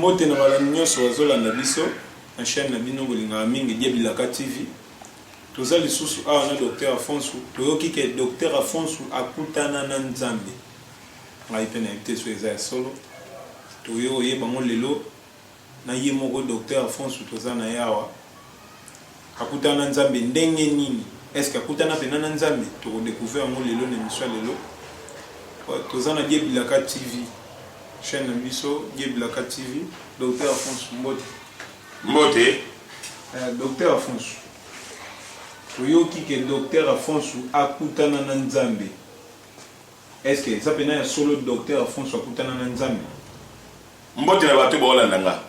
mbote na balandi nyonso bazolanda biso na chaîne na bino kolingaka mingi die bilaka tv toza lisusu awa na docteur afonso toyoki ke docteur afonso akutana na nzambe ngai mpe nayebi te so eza ya solo toyo oyeba yango lelo na ye moko Docteur Alfonso toza na ye awa akutana na Nzambe ndenge nini est ce que akutana pena na Nzambe toko decouvrir yango lelo na emission ya lelo toza na Die Bilaka TV chaîne na biso Die Bilaka TV Docteur Alfonso mbote mbote euh, Docteur Alfonso toyoki ke Docteur Alfonso akutana na Nzambe Est ce que eza pena ya solo docteur Alphonso akutana na Nzambe? Mbote na bato baolanda nga.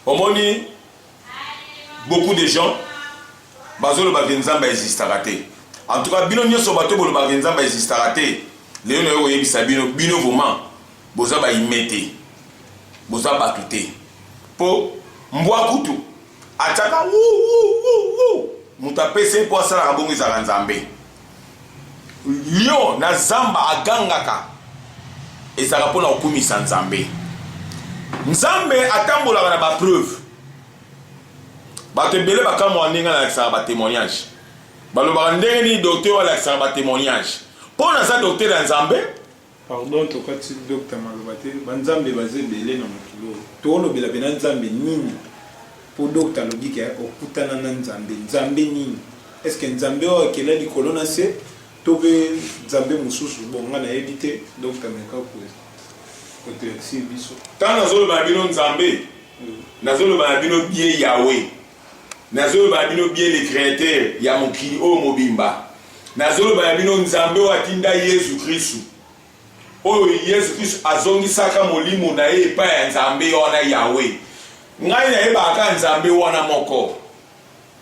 Omoni beaucoup de gens bazoloba ke Nzambe existaka te. En tout cas bino nyonso bato bolobaka ke Nzambe existaka te. Lelo nayo koyebisa bino bino vraiment boza ba ime te. Boza bato te. Po mbwa kutu atiaka moto apesi ye mpo asalaka bongo ezalaka Nzambe. Lion na zamba agangaka ezalaka mpo na kokumisa Nzambe. Nzambe atambolaka na bapreuve. Bato ebele bakamwaka ndenge alakisaka batemoignage, balobaka ndenge nini doktere alakisaka batemoignage. Mpo naza doktere ya Nzambe, Pardon tokati docta maloba te ba nzambe baza ebele na mokili oyo toolobela pena nzambe nini po docta alobi ke okutana na nzambe nzambe nini est ce que nzambe oyo akela likolo na se to pe nzambe mosusu bon nga nayebi te docta meka kotelakisie biso. Tango nazoloba na bino nzambe nazoloba na bino bien yahweh. Nazoloba na bino bien le createur ya mokili oyo mobimba nazoloba na bino nzambe oyo atinda yesu kristu oyo yesu kristu azongisaka molimo na ye epai ya nzambe wana yawe ngai nayebaka kaka nzambe wana moko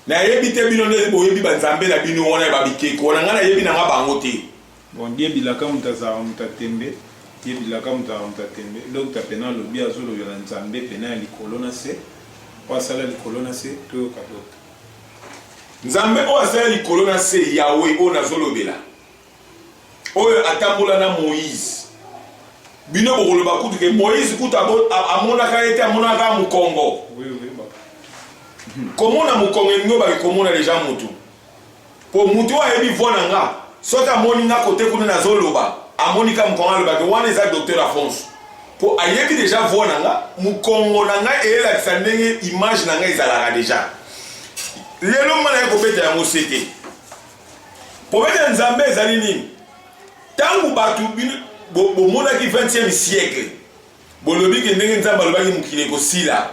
nayebi te bino nde boyebi banzambe na bino wana ya babikeko wana ngai nayebi nanga bango te Bon die bilaka moto azalaka moto ya tembe die bilaka moto azalaka moto ya tembe docta pena alobi azo lobela nzambe pena ya likolo na se oyo asala likolo na se toyoka docta nzambe oyo asala likolo na se yawe oyo nazo lobela oyo atambola na moïse bino bokoloba kutu ke moïse kutu amonaka ye te amonaka mokongo komona mokongo elingi obaki komona deja motu Po mutu oyo ayebi voix na nga soki amoni nga cote kuna nazo loba amoni ka mukongo aloba ke wana eza docteur Afonso po ayebi dejà voix na nga mukongo na nga elakisa ndenge image na nga ezalaka dejà lelo nga naye kobeta yango se te kobeta nzambe ezali nini tangu batu bomonaki 20e siècle Bolobi ke ndenge Nzambe alobaki mokili ekosila,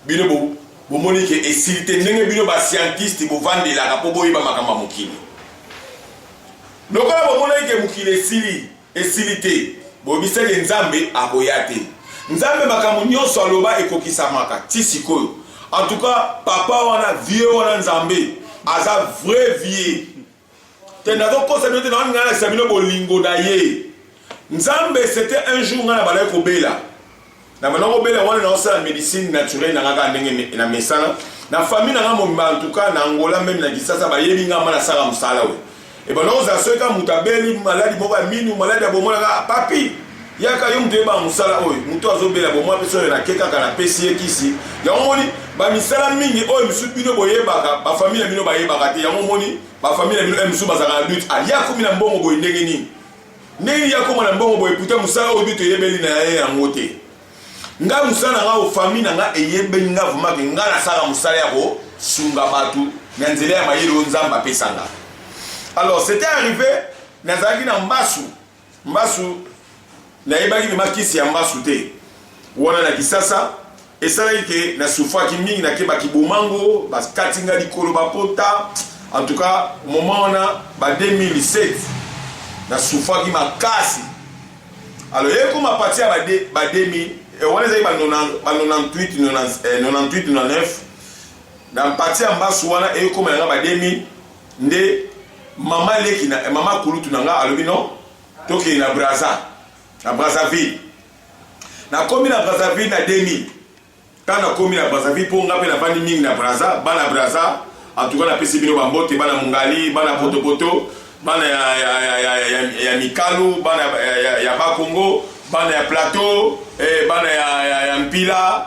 bino bo bomoni ke esili te, ndenge bino ba scientiste bovandelaka po boyeba makambo ya mokili. Lokola bomonaki ke mokili esili, esili te, boyebisaki ke Nzambe akoya te. Nzambe makambo nionso aloba ekokisamaka ti sikoyo. En tout cas, papa wana, vieux wana Nzambe aza vrai vieux. te nazokosa bino te nawana ngai nalakisa bino bolingo na ye nzambe c'était un jour ngai na bandaki kobela na bandaki kobela wana naosala médecine naturelle na ngai kaka ndenge na mesana na famille na ngai mobimba en tout cas na angola meme na kisasa bayebi ngai ma nasala mosala oyo ebanda kozala soki kaka moto abeli maladi moko ya minu maladi ya bomonaka papi Yaka yo moto oyebaka mosala oyo moto azobela bomwa mpe soki nake kaka napesi ye kisi yango moni bamisala mingi oyo misusu bino boyebaka bafamili ya bino bayebaka te yango moni bafamili ya bino oyo eh, misusu bazalaka na dute alia ah, komi na mbongo boye ndenge nini ndenge nini akoma na mbongo boye puta mosala oyo dute eyebeli na ye yango te ngai mosala na ngai ofamili na ngai eyebeli ngai vumake ngai nasala mosala ya kosunga bato na nzela ya mayele oyo nzambe apesanga alors c'était arrivé nazalaki na mbasu Mbasu nayebaki vrema kisi ya mbasu te wana na kisasa esalaki ke na sufaki mingi nakebaki bomango bakati nga likolo bapota en tout cas moment wana ba 2007 na sufaki makasi alors ekoma pati ya ba 2000 eh, wana ezalaki ba 98 99 eh, na pati ya mbasu wana ekoma yanga ba 2000 Nde maman leki na maman kulutu na nga alobi non tokende na Brazza na Brazzaville nakomi na Brazzaville na 2000 ntango nakomi na Brazzaville mpo nga mpe navandi mingi na Brazza bana Brazza en tout cas napesi bino bambote bana Mungali bana potopoto bana ya, ya, ya, ya, ya, ya Mikalu bana ya, ya, ya Bakongo bana ya Plateau eh, bana ya, ya, ya Mpila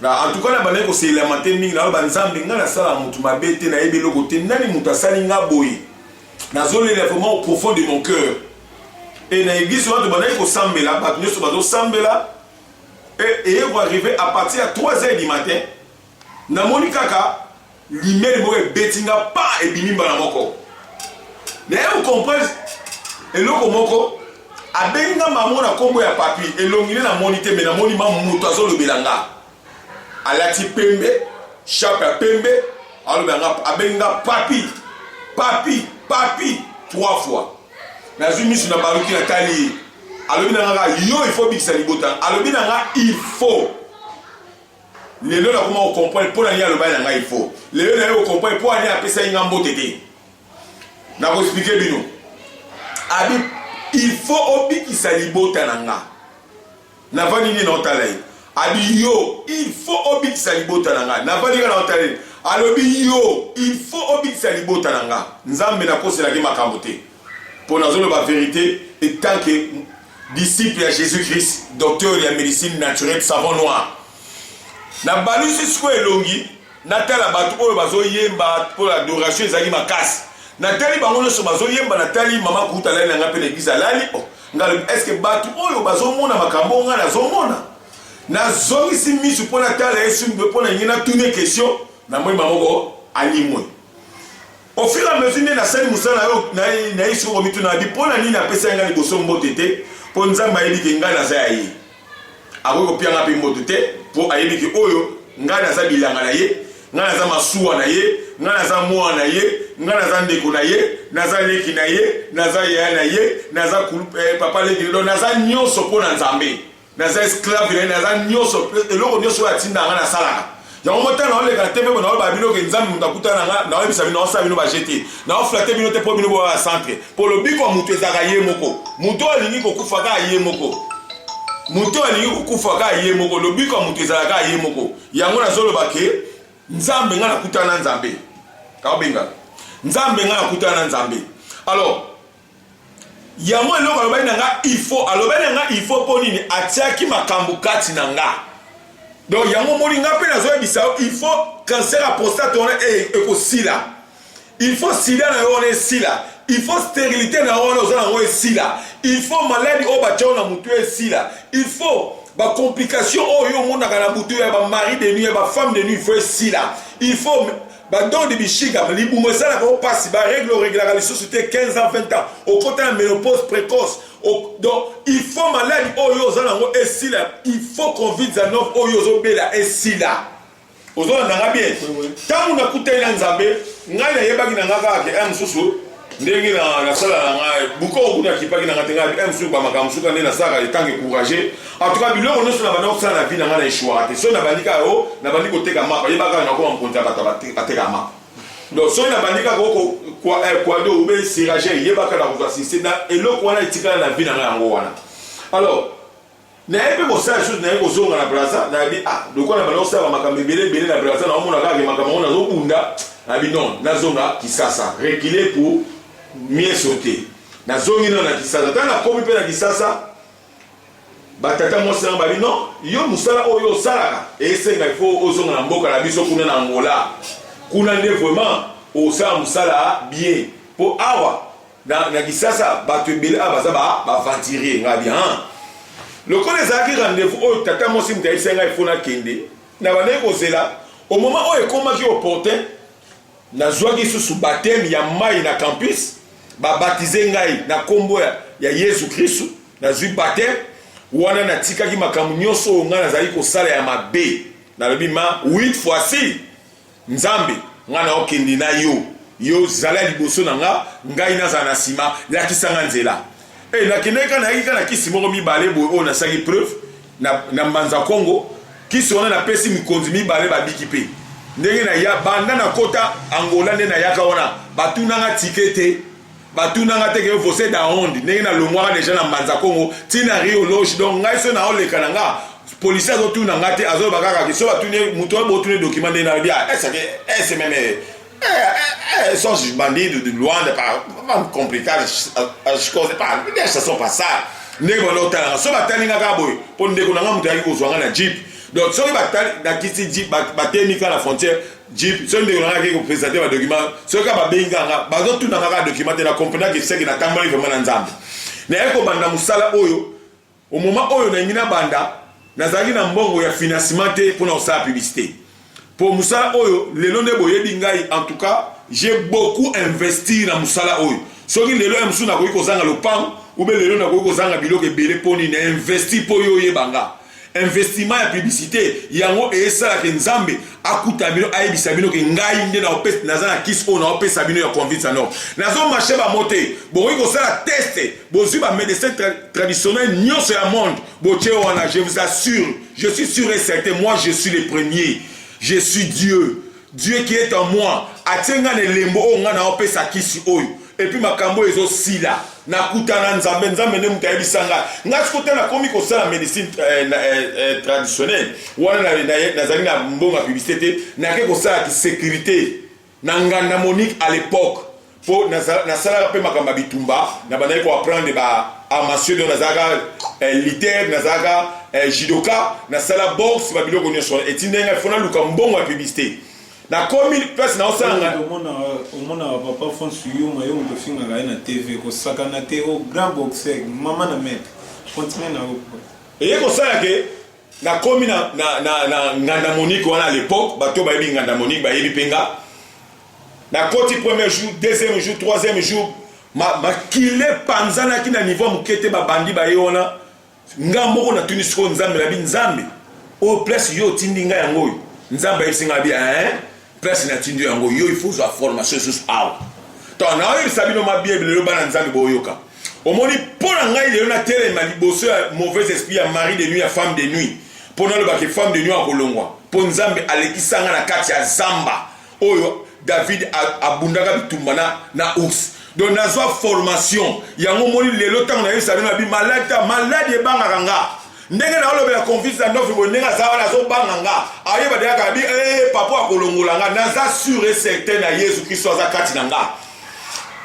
Na en tout cas na bande ko se lamenter mingi na ba nzambe nga na sala mutu mabe te na yebi loko te nani mutu asali nga boye na zole la vraiment au profond de mon cœur et na église watu bande ko sambela batu nyoso bazo sambela et et ko arriver à partir à 3 heures du matin na moni kaka Limele moko ebeti nga pa ebimi mbala moko. Naye okomprendre eloko moko abengi nga mamo na kombo ya papi elongi ne namoni te me namoni ma moto azolobela nga alati pembe shape ya pembe alobela nga abengi nga papi papi papi trois fois nazwi misu na baluki natali ye alobi na nga yo il faut bikisa libota alobi na nga il faut lelo nakoma kocomprendre mpo na nini alobaki na ngai fo lelo naye kocomprendre mpo ani apesaki ngai mbote te nakoexplike bino abi il faut obikisa libota na nga navandi nini naotala ye abi yo il faut obikisa libota na nga navandi nga naotala ye alobi yo il faut obikisa libota na nga nzambe nakoselaki makambo te mpo nazoloba verite etanke disciple ya jesus christ docteur ya medicine naturelle savon noir nabalusi sikoyo elongi natala bato oyo bazoyemba mpo na adoration ezali makasi natali bango nyonso bazoyemba natali mama kuta alali na ngai mpe na eglize alali oh, ngai estce bato oyo bazomona makambo oyo ngai nazomona nazongisi miso mpo natala yesu mpe mpo na ngai natuni question namoni bango alimwe Au fur et à mesure nde nasali mosala na yo, naye sikoyo komituna abi mpo na nini apesaki ngai liboso mbote te, mpo Nzambe ayebi ke ngai naza ya ye. Akoki kopia ngai mpe mbote te, mpo ayebi ke oyo ngai naza bilanga na ye, ngai naza masuwa na ye, ngai naza mwana na ye, ngai naza ndeko na ye, naza leki na ye, naza yaya na ye, naza kulu, eh, papa leki, donc naza nyonso mpo na Nzambe. naza esclave na ye naza nyonso eloko nyonso oyo atinda nga nasalaka yango motala naoleka na tv bona olobaka bino ke nzambe moto akuta na nga naoyebisa bino naosala bino baje te naoflate bino te mpo bino boya ya centre mpo lobiko ya moto ezalaka ye moko moto oyo alingi kokufa kaka ye moko moto oyo alingi kokufa kaka ye moko lobiko ya moto ezalaka kaka ye moko yango nazoloba ke nzambe nga nakutana na nzambe kaobenga nzambe nga nakutana na nzambe alors yango eloko alobaki na nga ifo alobaki na nga ifo mpo nini atiaki makambo kati na nga donc yango omoni nga mpe nazoyebisa yo ifo cancer ya prostate wana e, ekosila ifo sida na yo wana esila ifo sterilité na yo wana oza nango esila ifo maladi oyo batya na motu esila ifo bacomplication oyo omonaka na butu ya bamari de nuit ya bafemme de nuit ifo esila ifo ba don de bishiga libumu esalaka o pasi ba règle oreglaka lisusu te 15 ans 20 ans okota na menopause précoce donc il faut maladi oyo oza nango esila il faut covid 19 oyo ozobela esila ozolanda nga bien ntango nakutani na nzambe ngai nayebaki na nga kaka ke eh, mosusu ndenge na nasala na ngai buko okuna akipaki na ngai te ngai msu bamakambo suka nde nasalaka etange courage atuka biloko nyonso na banda kosala na vi na ngai na eshuaka te soki nabandi kaka o nabandi koteka mapa yebaka nakoma mokonzi ya bato ateka mapa donc soki nabandi kaka okokwado eh, obe sirage yebaka na kozwa sise na eloko wana etikala na vi na ngai yango wana alors Naye pe kosala chose naye kozonga na Brazza nabi ah lokola na banda kosala makambo ebele ebele na Brazza na omona kaka makambo yango nazo bunda nabi non nazonga Kisasa reculer pour mieux sauter nazongi nao na Kisasa ntango nakomi mpe na Kisasa batata mwasi nanga babi non yo mosala oyo osalaka esenga il faut ozonga na mboka na biso kuna na Angola kuna nde vraiment osala mosala bien mpo awa Na, na Kisasa, bato ebele awa baza baventurier ngai bi han lokola ezalaki rendez-vous oyo tata mwasi moto ayebisaki ngai mpo nakende na bandaki kozela au moment oyo ekomaki opportun nazwaki lisusu bateme ya mai na campus babatize ngai na nkombo ya, ya yesu kristu nazwi bateme wana natikaki makambo nyonso oyo ngai nazali kosala ya mabe nalobi ma 8 fois si Nzambe, ngai naokende na yo, yo zala liboso na nga, ngai nazala na nsima, lakisa nga nzela. E, nakendaki kaka, nayaki kaka na kisi moko mibale boye oyo nasalaki preuve na, na Mbanza Kongo. Kisi wana napesi mikonzi mibale, babiki mpe ndenge na ya banda na kota Angola nde nayaka wana, batunanga tike te. batuna nga te ke vose da onde ndenge nalongwaka deja na mbanza kongo ti na rio loge donc ngai so naoleka na nga polisi azotuna nga te azoloba kaka ke so batuni moto oyo botuni dokima ndenge nalobi a esake esememe sons bandido de luanda pas complicado as coisas pas deixa só passar ndenge banda otala nga so batali nga kaka boye mpo ndeko na nga moto ayaki kozwa nga na jeep donc soki batali na kisi jeep batemi ka na frontière Jeep, soki ndeko nanga akei kopresente badokima soki kaka babenga nga bazotuna nga kaka dokima te na comprendaki eseki natamboli vraimen na nzambe naye kobanda mosala oyo omoma oyo nalingi nabanda nazalaki na mbongo ya financement te mpona kosala publicité mpo mosala oyo lelo nde boyebi ngai en tout cas j'ai beaucoup investir na mosala oyo soki lelo ya mosusu nakoki kozanga lopango ube lelo nakoki kozanga biloko ebele mpo nini na investir mpo yo oyeba nga investissement ya publicité yango esala ke nzambe akuta bino ayebisa bino ke ngai nde na opesa naza na kisi oyo na opesa bino ya convince no nazo marche ba mote bokoki kosala test bozwi ba médecin tra traditionnel nyonso ya monde botie wana je vous assure je suis sûr et certain moi je suis le premier je suis dieu Dieu qui est en moi atie nga na elembo oyo nga naopesa kisi oyo epuis makambo oyo ezosila nakutana nzambe nzambe nde moto ayebisa nga nga siko te nakomi kosala médecine eh, eh, eh, traditionnelle wana nazali na mbongo ya publicité te nake kosala kisécurité na nganda monique à l'époque po nasalaka pe makambo ya bitumba na bandaki ko apprendre ba arts martiaux donc nazalaka eh, liter nazalaka eh, judoka nasala boxe ba biloko nyonso wana etindai ngai fo naluka mbongo ya publicité nakomi place naosalanga omona euh, papa france yuma yo moto ofingaka ye na tv kosakana te o oh, grand boxer mama na maître continue na yo eye kosala ke nakomi na, na, na, na nganda monique wana à l'époque bato bayebi nganda monique bayebi mpe nga na koti premier jour deuxième jour troisième jour makila epanzanaki na niveau ya moke te babandi baye wana nga moko natuni sikoyo nzambe nabi nzambe oyo place yo otindi nga yango oyo nzambe ayebisi nga bi eh, place natindi yo yango yo ifo ozwa formation esusu awa to naoyebisa bino mabiye bilelo bana nzambe boyoka omoni mpo na ngai lelo natelema liboso ya mauvaise esprit ya mari de nuit ya femme de nuit mpo nalobaka femme de nuit akolongwa mpo nzambe alekisa nga na kati ya zamba oyo david abundaka bitumba na, na ours donc nazwa formation yango moni lelo ntango nayebisa bino nabi maladi ta maladi ebangaka nga ndenge naolobela confiance na ndofi boye ndenge aza wana azobanga nga ayeba deya kaka bi ee eh, papa akolongola nga naza sur e certain na yesu kristo aza kati na nga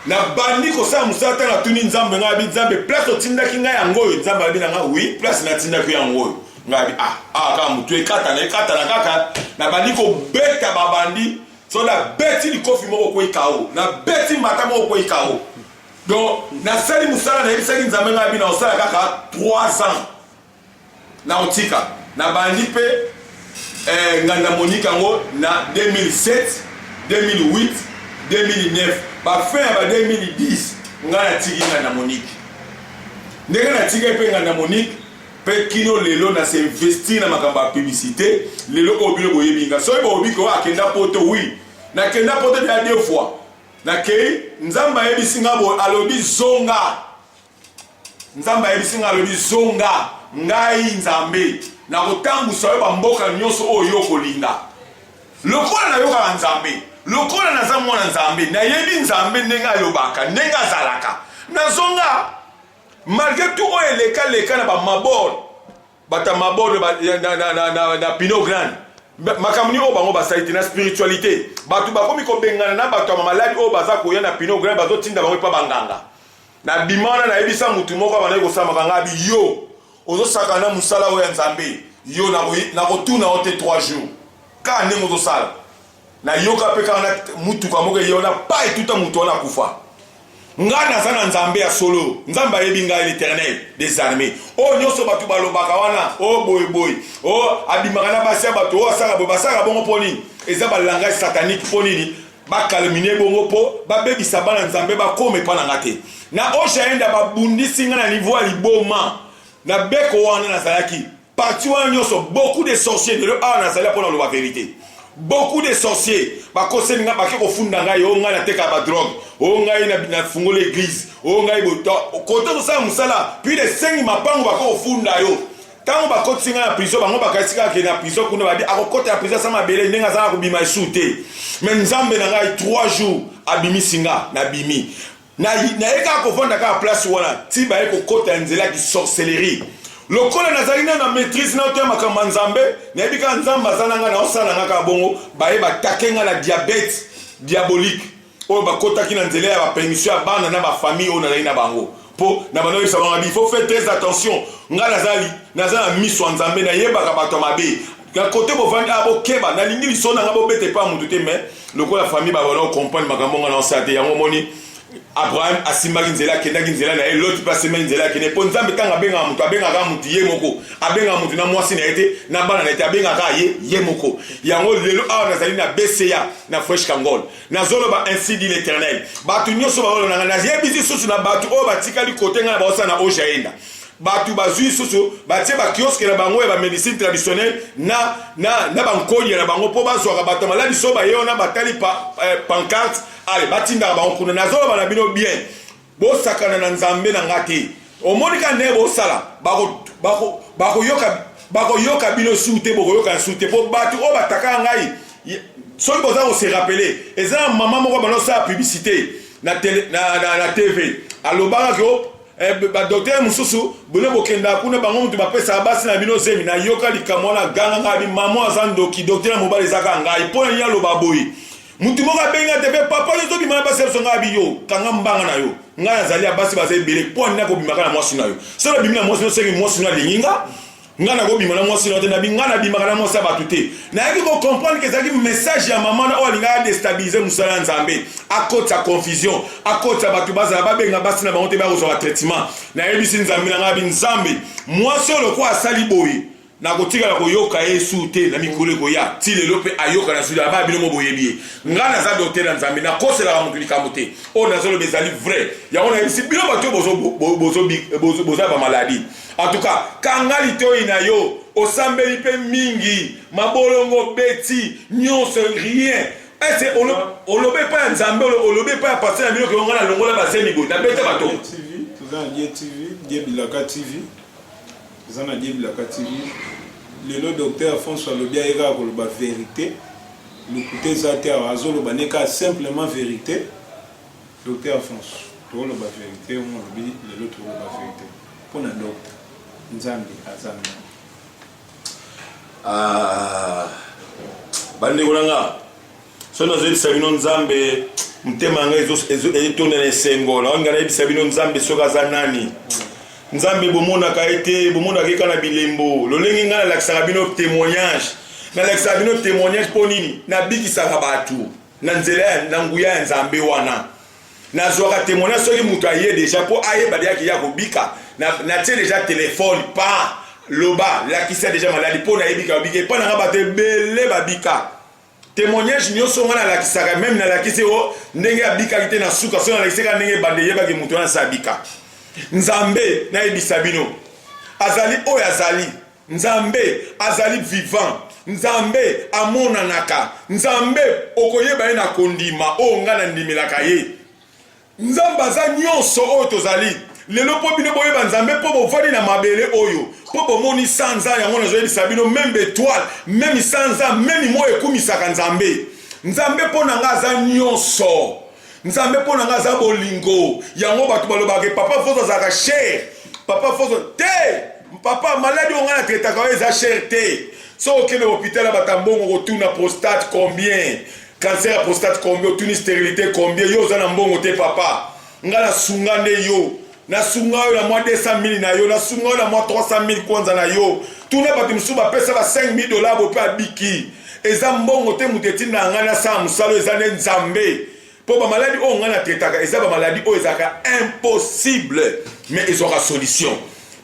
nabandi kosala mosala ntango natuni nzambe ngai abi nzambe place otindaki ngai yango oyo nzambe abi na ngai wi place natindaki yango oyo ngai ah ah kaka motu ekatana ekatana kaka nabandi kobeta babandi so nabeti likofi moko kwei kao nabeti mbata moko kwei kao donc nasali mosala nayebisaki nzambe ngai abi naosala kaka 3 ans naotika nabandi mpe eh, nganda monike yango na 2007 2008 2009 bafin ya ba 2010 ngai natiki nganda monike ndenge natiki mpe nganda monike mpe kino lelo na se investir na makambo ya publicité lelo oyo bino boyebi nga soki boyebi ko akenda poto oui nakenda poto deja deux fois nakei nzambe ayebisi nga boye alobi zonga nzambe ayebisi nga alobi zonga ngai nzambe nakotambusa yo bamboka nyonso oyo yo okolinga lokola nayokaka nzambe lokola naza mwana nzambe nayebi nzambe ndenge alobaka ndenge azalaka nazonga Malgre tout oyo eleka leka na ba mabord bata mabord ba, na, na, na, na, na, na pino grande makambo nini oyo bango basali te na spiritualité bato bakomi kobengana na bato ya mamaladi oyo baza koya na pino grande bazotinda bango epa banganga na bima wana nayebisa motu moko abandaki kosamaka ngai abi yo ozosaka na mosala oyo ya nzambe yo nakotuna yo te 3 jours kaka ndenge ozosala nayoka mpe kaka na motuka moko eye wana pa etuta moto wana akufa ngai naza na nzambe ya solo nzambe ayebi ngai l'éternel des armées oyo oh, nyonso bato balobaka wana o oh, boyeboye o oh, abimaka na basi ya bato oyo asala boye basalaka bongo mpo nini eza balangage satanique mpo nini bakalmine bongo mpo babebisa bana nzambe bakoma epa na nga te na oshaenda babundisi ngai na niveau ya liboma na beko wana nazalaki parti wana nyonso beaucoup de sorcier lelo awa nazali mpo na loba verite beaucoup de sorcier bakoseli ngai bake kofunda ngai o oh, ngai natekaka badrogue o oh, ngai nafungoli eglise o oh, ngai kote kosala mosala puis esengi mapango bake kofunda yo ntango bakotisi ngai na prizo bango bakanisi kaka ke na prizo kuna badi akokota na prizo asa mabele ndenge azalaka kobima esu te me nzambe na ngai 3 jours abimisi nga nabimi Na, naye kaka kovanda kaka place wana ti baye kokota ya nzela ya kisorcellerie lokola nazali na na maîtrise na otoya makambo ya nzambe nayebi kaka nzambe aza na ngai naosala nga kaka bongo baye batake ngai na diabete diabolique oyo bakotaki na nzela ya bapermission ya bana na bafamille oyo nazali na bango mpo na bana oyebisa bango abi faut faire très attention ngai nazali naza na miso ya nzambe nayebaka bato ya mabe ya kote bovandi a ah, bokeba nalingi liso na nga bobeta epai ya moto te mais lokola famille babana okomprendre makambo nga na osa te yango omoni abraham asimbaki nzela akendaki nzela na ye loti mpe asimbaki nzela akende mpo nzambe ntango abengaka moto abengaka moto ye moko abengaka moto na mwasi na ye te na bana na ye te abengaka ye ye moko yango lelo awa nazali na bca na fresh kangol nazoloba ainsi dit l'éternel bato nyonso baolona ngai nayebisi susu na bato oyo batikali kote ngai na baosala na ojaenda Bato bazwi lisusu batie ba kiosque na bango ya ba medicine traditionnelle na, na, na ba nkodia na bango mpo bazwaka bato ya maladi so baye wana batali pa, eh, pancarte ale batindaka bango kuna. Nazoloba na bino bien, bosakana na Nzambe na nga te. Omoni ka ndenge bosala, bakoyoka bako, bako bakoyoka bino su te bokoyoka su te mpo bato oyo batakaka ngai soki boza kose rappele eza na mama moko bana osala publicité na, tele, na, na, na tv alobaka ke Eh, badoktele mosusu bino bokendaka kuna bango moto bapesaka basi na bino zemi nayoka likambo wana ganga ngai mama aza ndoki doktele ya mobali ezaka ngai mpo na nini aloba boye motu moko abengi ate mpe papa yo tobima na basi ya biso ngai abi yo kanga mbanga na yo ngai nazali ya basi baza ebele mpo anini akobimaka na mwasi na yo soki abimi na mwasi no senge mwasi no alingi nga nga nakobima na mwasi na te nabi nga nabimaka na mwasi ya bato te nayaki kocomprendre ke ezalaki message ya mama na oyo alingaki adestabilize mosala ya nzambe akotisa confusion akotisa bato bazala babenga basi na bango te bakozwa batraitement nayebisi nzambe na ngai abi nzambe mwasi oyo lokola asali boye nakotikala koyoka ye su te na mikolo ekoya ti lelo mpe ayoka na sudi aba bino mo boyebi ye ngai naza dote na nzambe nakoselaka moto likambo te oyo nazoloba ezali vrai yango nayebisi bino bato oyo boza bamaladi En tout cas, kanga litoyi na yo, osambeli pe mingi, mabolongo beti, nyonso rien. Ese olobe pa ya Nzambe, olobe pa ya pasteur na bino ke ngana longola ba zemi boye, na beta bato. TV, toza na Die TV, Die Bilaka TV. Toza na Die Bilaka TV. Lelo docteur François alobi aye kaka koloba verite. Lokuta eza te awa, azoloba ne kaka simplement verite. Docteur Alphonse tozo loba verite yo moko olobi lelo toko loba verite pona docta nzambe aza nani? Ah, bandeko na nga soki nazoyebisa bino nzambe motema na ngai etonda na esengo na wangi nayebisa bino nzambe soki aza nani nzambe bomonaka ye te bomonaka ye kaka na bilembo lolenge ngai nalakisaka bino témoignage nalakisaka bino témoignage mpo nini nabikisaka bato na nzela ya na nguya ya nzambe wana nazwaka temona soki moto aye deja mpo ayeba deja kiya kobika natie na deja telefone pa loba lakisa deja maladi mpo nayebika babika epai nanga bato ebele babika témoignage nyonso ngai nalakisaka meme nalakisi o ndenge abikaki te na suka so nalakisi kaka ndenge ebanda eyebaki moto wana sa abika nzambe nayebisa bino azali oyo azali Nzambe azali vivant. Nzambe amonanaka. Nzambe okoyeba ye na kondima oyo oh, ngai nandimelaka ye. Nzambe aza nyonso oyo tozali lelo mpo bino boyeba nzambe mpo bovandi na mabele oyo mpo bomoni sanza yango nazoyebisa bino meme betoile meme sanza meme moi ekumisaka nzambe nzambe mpo na ngai aza nyonso Nzambe mpo na ngai aza bolingo. Yango bato balobaka ke papa Fozo azalaka cher. Papa Fozo te. Papa maladi oyo ngai na traitaka oyo eza cher te. So okende hopital ya bata mbongo kotuna prostate combien? Cancer ya prostate combien? Otuni sterilite combien? Yo oza na mbongo te papa. Ngai na sunga nde yo. nasunga yo na mwa 200 mili na yo nasunga yo na mwa 300 mili kwanza na yo tuna bato mosusu bapesa ba 5 mili dola bo mpe abiki eza mbongo te moto etinda ngai nasala mosala eza nde nzambe mpo bamaladi oyo ngai natetaka eza bamaladi oyo ezalaka impossible me ezwaka solution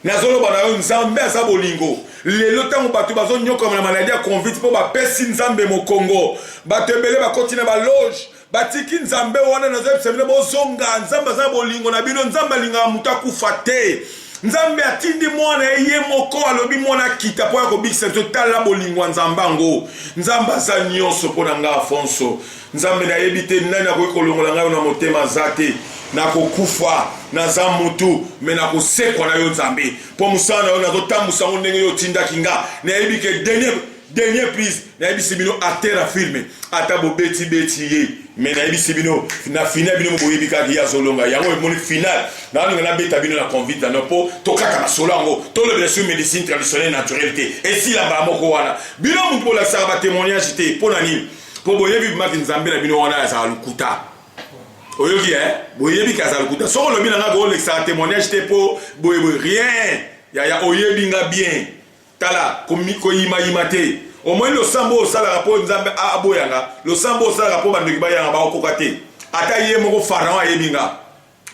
nazoloba na yo nzambe aza bolingo lelo ntango bato bazonyokama na maladi ya convite mpo bapesi nzambe mokongo bato ebele bakoti na baloge batiki nzambe wana nazo yebisa bino bozonga nzambe aza bolingo na bino nzambe alingaka moto akufa te nzambe atindi mwana ye ye moko alobi mwana akita mpo ya kobikisa biso tala bolingo ya nzambe yango nzambe aza nyonso mpo na ngai afonso nzambe nayebi te nani akoki kolongola ngai na motema aza te nakokufa naza mutu me nakosekwa na yo nzambe mpo mosala na yo nazotambusa yango ndenge yo otindaki nga nayebi ke denie Dernier prise nayebisi bino acteur ya filme ata bobeti beti ye me nayebisi bino na final bino boyebi kaka ye azolonga yango emoni final nalinga nabeta bino na convite no mpo tokata na solo yango tolobela sur médecine traditionnelle naturelle te esila mbala moko wana bino moto bolakisaka batémoignage te mpo na nini mpo boyebi bimaki nzambe na bino wana azala lokuta oyoki e eh? boyebi ke azala lokuta soko olobi na ngai koolekisaka témoignage te mpo boyeboye rien yaya oyebi nga bien Tala, koyimayima te. Omoni losambo oyo osalaka mpo Nzambe aboya nga, losambo oyo osalaka mpo bandoki baya nga, bakokoka te. Ata ye moko Pharaon ayebi nga.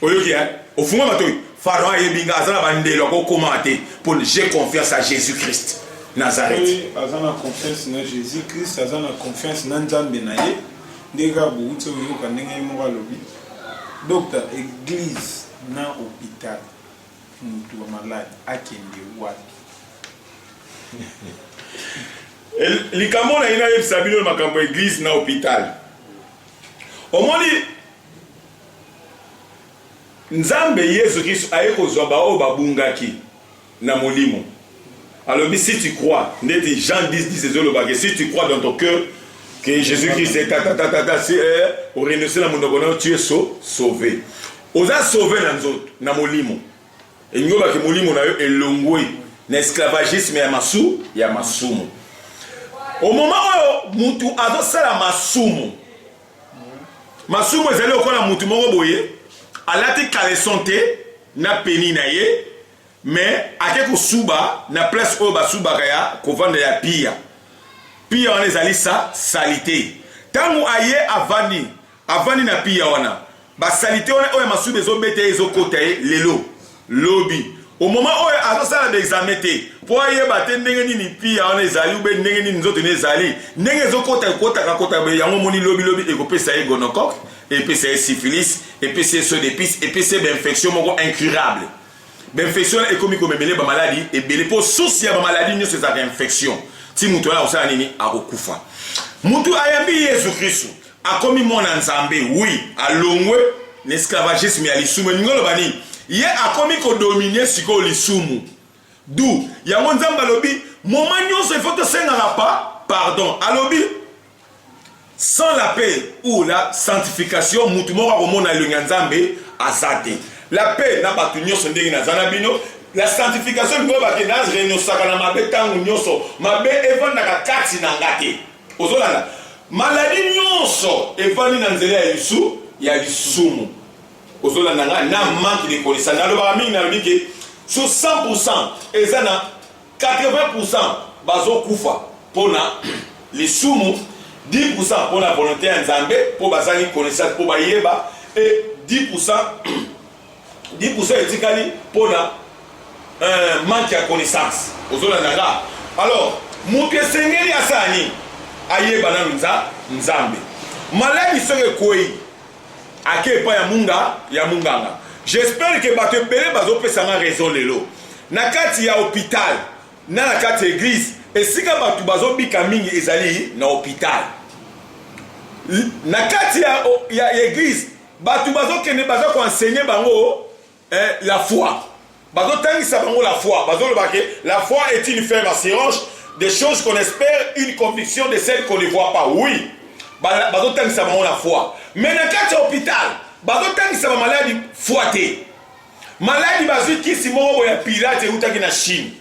Oyoki hein? Ofungwa matoyi? Pharaon ayebi nga, aza na ba ndelo akoki kokomaa te mpo j'ai confiance à Jesus Christ Nazareth. Soki aza na confiance na Jesus Christ, aza na confiance na Nzambe na ye. Ndenge kaka bowuti koyoka ndenge ye moko alobi. Docta, eglise na hopital. Mutu ya malade akende wapi? Likambo nalingi nayebisa bino na makambo ya eglise na hopital, omoni nzambe yesu kristo aye kozwa baoyo babungaki na molimo alobi si tu crois ndeti jean 10 10 ezolobake si tu crois dans ton cœur que jésus christ est tatatatata si eh, orenonse na monoko nayo tu es so sauvé Oza sauve na nzoto, na molimo. Engiobake molimo na yo elongwe na esclavagisme ya masu ya masumu. Au moment oyo mutu azosala masumu, masumu ezali lokola mutu moko boye alati caleçon te na peni na ye mais ake kosuba na place oyo basubaka ya kovanda ya pia pia wana ezali sa salite ntango aye avandi Avandi na pia wana ba salite wana oyo ya masuba ezo beta ye ezo kota ye lelo lobi au moment oyo azo sala ba examen te po ayeba te ndenge nini pia wana ezali ou bien ndenge nini nzoto ne ezali ndenge ezo kota kota ka kota be yango moni lobi lobi ekopesa ye gonocoque epesa ye syphilis epesa ye saut d'épice epesa ye ba infection moko incurable ba infection wana ekomi komemele ba maladi ebele po source ya ba maladi nyonso ezalaka infection ti moto wana akosala nini akokufa mutu ayambi yesu kristu akomi mwana nzambe oui alongwe na esclavagisme ya lisumu elingi oloba nini ye akomi kodomine sikoyo lisumu du yango nzambe alobi moma nyonso ifo tosengaka pa pardon alobi sans la paix ou la sanctification motu moko akomona elongi ya nzambe aza te la paix na bato nyonso ndenge naza na bino la sanctification lingo bakenda renosaka na mabe ntango nyonso mabe efandaka kati na nga te Ozolanda? Maladie nyonso evandi na nzela ya lisu ya lisumu. Ozolanda nga na manque de connaissance. Nalobaka mingi nalobi ke sur 100% eza na 80% bazokufa pona lisumu 10% pona volonté ya Nzambe po bazangi connaissance po bayeba et 10% 10% etikali pona euh, manque ya connaissance ozolanda nga alors moto esengeli asala nini ayeba nanu nza nzambe maladi soki ekwei ake epai ya munga ya munganga j'espère ke bato ebele bazopesa nga raison lelo na kati ya hôpital na na kati ya eglise esika bato bazobika mingi ezali na hôpital na kati ya, ya, ya eglise Batu bazo kende baza ko enseigner bango eh, la foi. Bazo tangisa bango la foi. Bazo loba ke la foi est une ferme assurance des choses qu'on espère, une conviction de celles qu'on ne voit pas. Oui. Bazo tangisa bango la foi. Mais na kati ya hôpital, bazo tangisa ba maladi foi te. Maladi bazwi kisi moko boya pirate eutaki na Chine.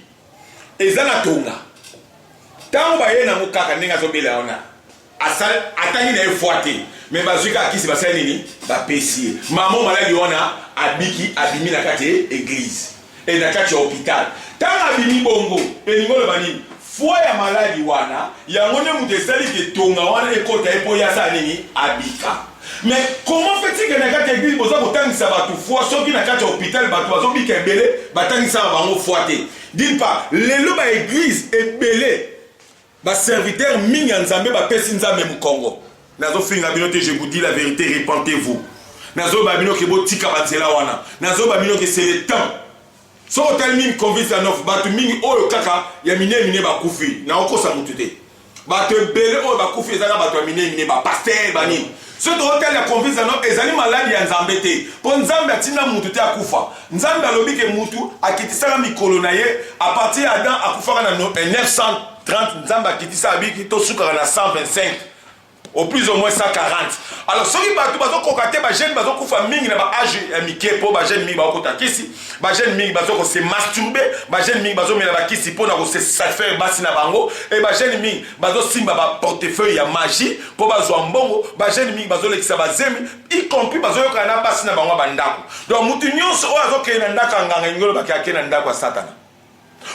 Eza na tonga. Tango baye nango kaka ndenge azobela wana. asali atangi na ye fois te me bazwi kaka kisi basali nini bapesi ye mamo maladi wana abiki abimi na kati ya eglize e na kati ya hopital ntango abimi bongo elingi oloba nini foi ya maladi wana yango nde moto esali ke tonga wana ekota ye mpo ye asala nini abika me comment fetike na kati ya eglise boza kotangisa bato foi soki na kati ya hopital bato bazobika ebele batangisaka bango foi te dine part lelo baeglise ebele Ba serviteurs mingi ya Nzambe bapesi Nzambe mokongo. Nazofinga bino te, je vous dis la verite, repentez-vous. Nazoba bino ke botika banzela wana. Nazoba bino ke c'est le temps. Soki otali mingi convince ya North, bato mingi oyo kaka ya mine mine bakufi. Naokosa moto te. Bato ebele oyo bakufi ezaka bato ya mine mine, ba pasteur, ba nini. Soki tokotali ya confiance na no ezali maladi ya Nzambe te, mpo Nzambe atinda mutu te akufa. Nzambe alobi ke mutu akitisaka mikolo na ye a partir ya Adam akufaka na 1930 Nzambe akitisa abiki to sukaka na 125 au plus au moins 140 alors soki bato bazokoka te bajeune bazokufa mingi na baage ya mike mpo bajeune mingi bakokota kisi bajeune mingi bazokose masturbe bajeune mingi bazomela bakisi mpo na kose satisfaire basi na bango e bajeune mingi bazosimba ba portefeuille ya magie mpo bazwa mbongo bajeune mingi bazolekisa bazemi y compris bazoyokana na basi na bango ya bandako donc motu nyonso oyo azokende na ndako ya nganga elingi olobaki ake na ndako ya satana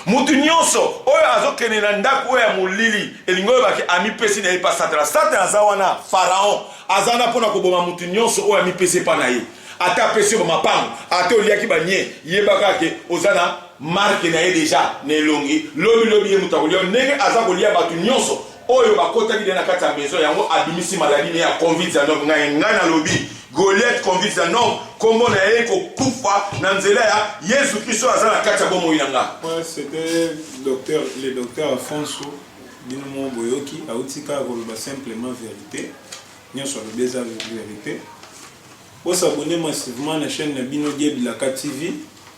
motu nyonso oyo azokende na ndako oyo ya molili elingi olobaki amipesi na ye mpa satana satana aza wana faraon aza wana mpo na koboma motu nyonso oyo amipesi epa na ye ata apesi yo bamapango ata oliaki banie yebaka ke oza na marque na ye dejà na elongi lobi lobi ye moto akolia ndenge aza kolia bato nyonso oyo bakotaki deja na kati ya maison yango abimisi maladie ne ya covid 19 ngai ngai nalobi goliath covid 19 kombo na ye kokufa na nzela ya yesu kristo aza na kati ya bomoi na ngai Ouais, c'était docteur, le docteur Alfonso bino moko boyoki auti kaka koloba simplement verité nyonso alobi eza verité bosabone massivement na chaîne na bino diebilaka tv